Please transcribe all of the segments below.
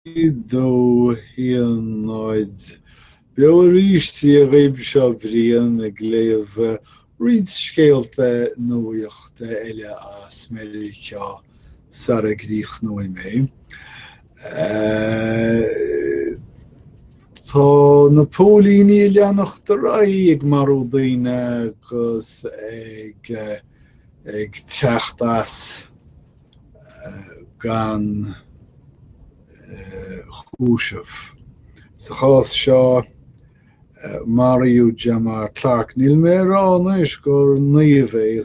2 1 0 beo arís Dia dhaoib Seo Brian ag léamh roinnt scéalta nuachta eile as Meiriceá sara gcríochnóidh mé. Tá na póilíní ag leanacht ar aghaidh ag marú daoine agus ag teacht as. gan chúiseamh. Sa chás seo maraíodh Jamar Clark. Níl mé ag rá anois gur naomh é,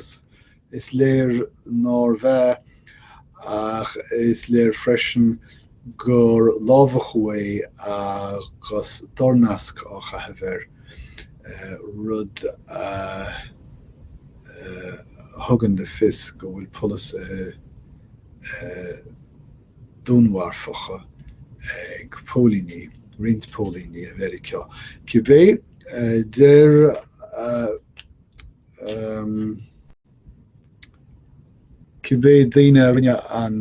is léir nárbh ea, ach is léir freisin gur lámhachadh é agus dornasc á chaitheamh aige, rud a thugann le fios go bhfuil polasaithe dúnmharfacha ag póilíní, roinnt póilíní i Meiriceá. Cibé, deir cibé daoine a rinne an.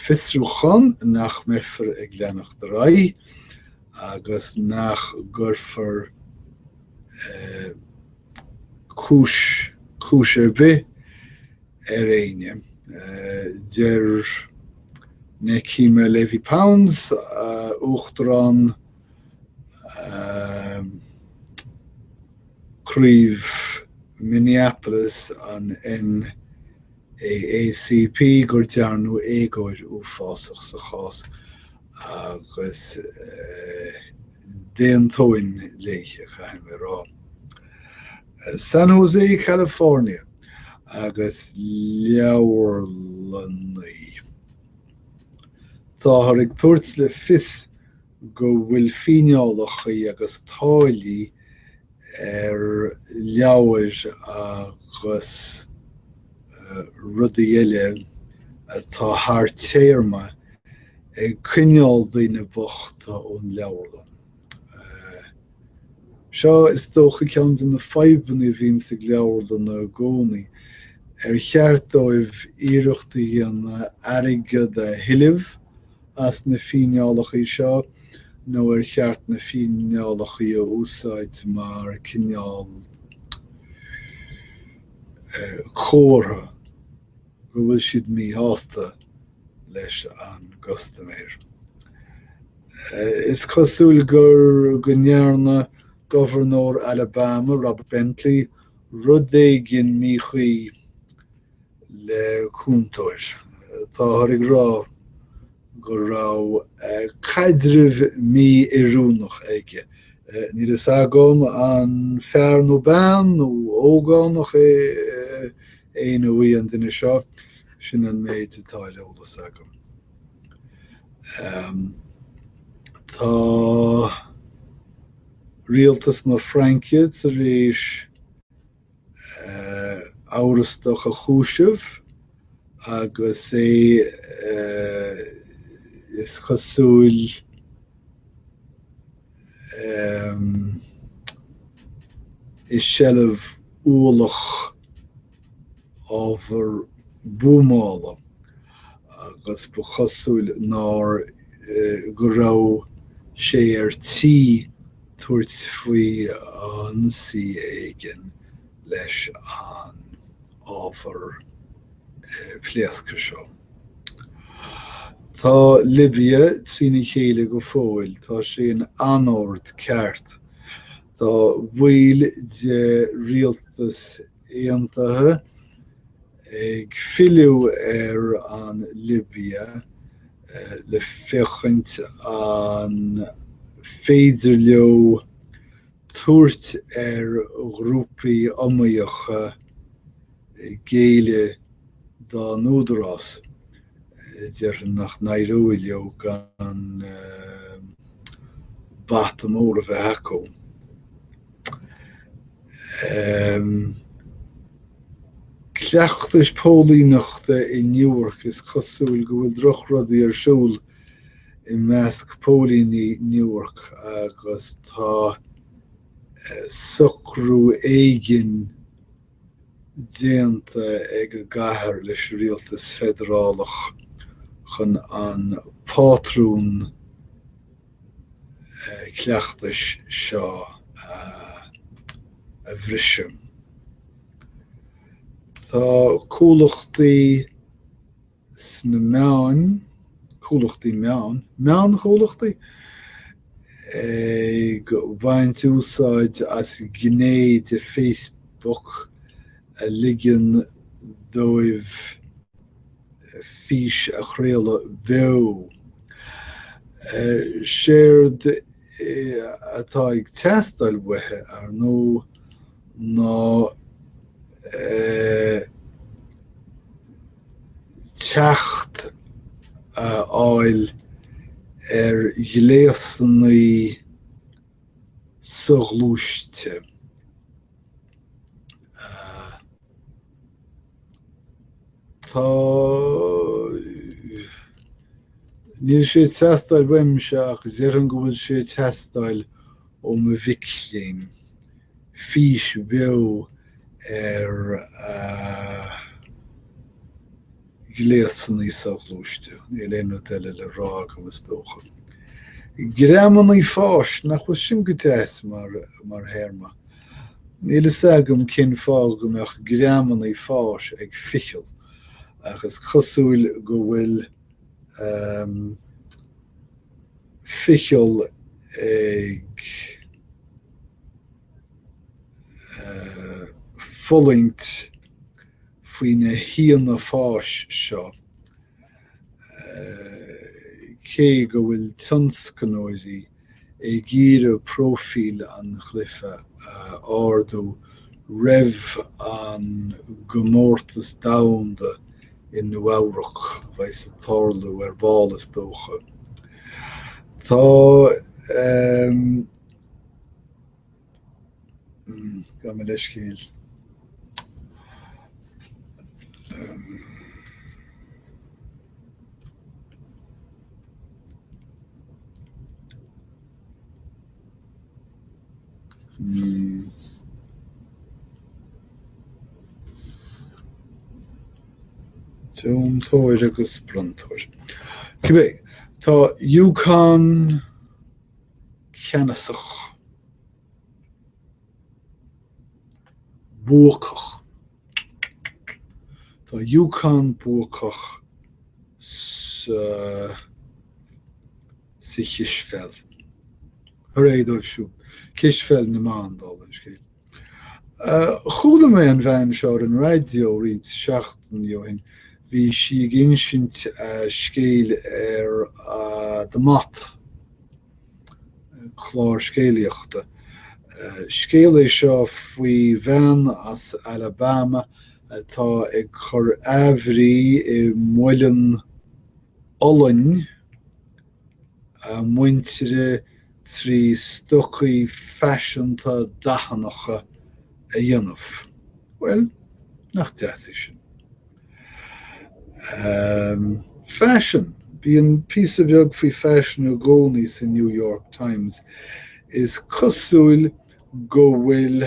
fiosrúchán nach mbeifear ag leanacht ar aghaidh agus nach gcuirfear cúis, cúis ar bith ar éinne. Deir Nekima Levy Pounds, Uachtarán. Craobh Minneapolis an NAACP go ndearnadh éagóir uafásach sa chás agus d'aontóinn léithi, caithfidh mé a rá. San Jose, California agus leabharlannaí. Táthar ag tabhairt le fios go bhfuil fíneálacha agus táillí ar leabhair agus rudaí eile atá thar téarma ag coinneáil daoine bochta ón leabharlann. Seo is dócha ceann de na fadhbanna a bhíonns ag leabharlanna i gcónaí. Ar cheart dóibh iarracht a dhéanamh airgead a thuilleamh? as na fíneálacha seo nó ar cheart na fíneálacha a úsáid mar cineál comhartha go bhfuil siad míshásta leis an gcustaiméir. Is cosúil gur go ndearna gobharnóir Alabama, Robert Bentley, rud éigin míchuí le cúntóir. Táthar ag rá go raibh caidreamh mí-oiriúnach aige. Níl fhios agam an fear nó bean nó ógánach a bhí an duine seo. Sin an méid atá ar eolas agam. Tá rialtas na Fraince tar éis. amhrastach a chúiseamh agus é, is cosúil, i seilbh ualach ábhar buamála agus ba chosúil ná go raibh sé ar tí tabhairt faoi ionsaí éigin leis an ábhar pléasctha seo. Tá Libia trína chéile go fóill, tá sé in anord ceart. Tá baill de rialtas aontaithe Ag filleadh ar an Libia le féachaint an féidir leo tabhairt ar ghrúpaí iomaíocha géilleadh dá n-údarás. Déarfainn nach n-éireoidh leo gan bata mór a bheith acu. Cleachtais póilíneachta i Newark is cosúil go bhfuil drochrudaí ar siúl i measc póilíní Newark agus tá socrú éigin déanta ag an gcathair leis an rialtas feidearálach chun an pátrún cleachtais seo a bhriseadh. Tá comhlachtaí sna meáin, comhlachtaí meán, meánchomhlachtaí? ag baint úsáid as gné de Facebook a ligeann dóibh fís a chraoladh beo. Séard atá ag teastáil uathu, ar ndóigh, ná teacht a fháil ar ghléasanna soghluaiste. Tá. Níl sé ag teastáil uaimse ach déarfainn go bhfuil sé ag teastáil ó mo mhic léinn. Fís bheo ar. gléasanna soghluaiste, níl aon rud eile le rá agam is dócha. Greamannaí fáis, nach bhfuil sin go deas mar théarma? Níl fhios agam cén fáth go mbeadh greamannaí fáis ag ficheall ach is cosúil go bhfuil ehm. ficheall ag eh. fulaingt faoi na híona fáis seo, cé go bhfuil tionscnóirí ag iarraidh próifíl an chluiche a ardú roimh an gcomórtas domhanda i Nua-Eabhrac, a bheidh ag tarlú ar ball is dócha. Tá. Gabh mo leithscéal. Tóir agus Brontóir. Cibé ar bith, tá UConn cheannasach, buacach, tá UConn buacach sa sa chispheil, hurá dóibh siúd, cispheil na mban, dála an scéil. Chuala mé an bhean seo ar an raidió roinnt seachtainí ó shin. Bhí sí ag insint a scéil ar The Moth, clár scéalaíochta. Scéal é seo faoi bhean as Alabama atá ag cur athbhrí i muileann olainne. a muintire trí stocaí faiseanta dathannacha a dhéanamh. Bhuel, nach deas é sin? Ahem, faisean. Bíonn píosa beag faoi faisean i gcónaí sa New York Times. Is cosúil go bhfuil.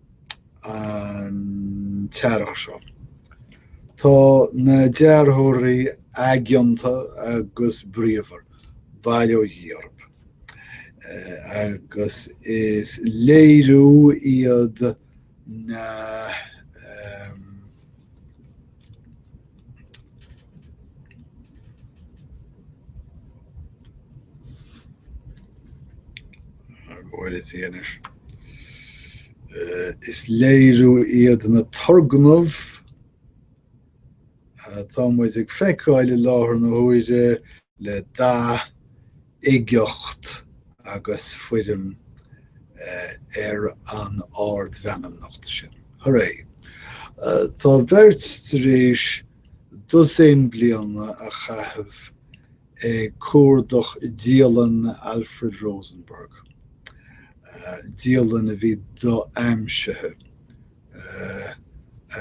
an t-earrach seo. Tá na dearthóirí aigeanta agus bríomhar, bail ó Dhia orthu, agus is léiriú iad na. Is léiriú iad na turgnaimh atá muid ag feiceáil i láthair na huaire le dath, uigeacht agus foirm ar an ardmheanmnacht sin. Hurray! Tá beirt tar éis dosaen bliana a chaitheamh ag cuardach dialann Alfred Rosenberg, dialann a bhí do-aimsithe,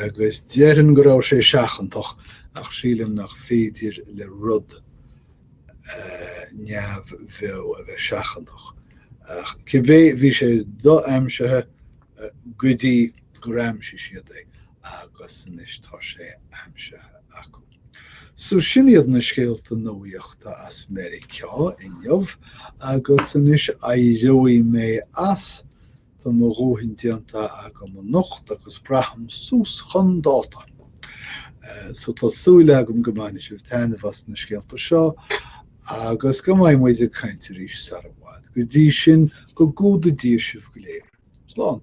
agus déarfainn go raibh sé seachantach, ach sílim nach féidir le rud neamhbheo a bheith seachantach. Cibé, bhí sé do-aimsithe go dtí gur aimsigh siad é agus anois tá sé aimsithe acu. So sin iad na scéalta nuaíochta as Meiriceá inniu agus anois éireoidh mé as. Tá mo dhóthain déanta agam anocht agus braithim suas chun dáta. So tá súil agam go mbainfidh sibh taitneamh as na scéalta seo agus go mbeidh muid ag caint arís sara i bhfad. Go dtí sin, go gcumhdaí Dia sibh go léir. Slán!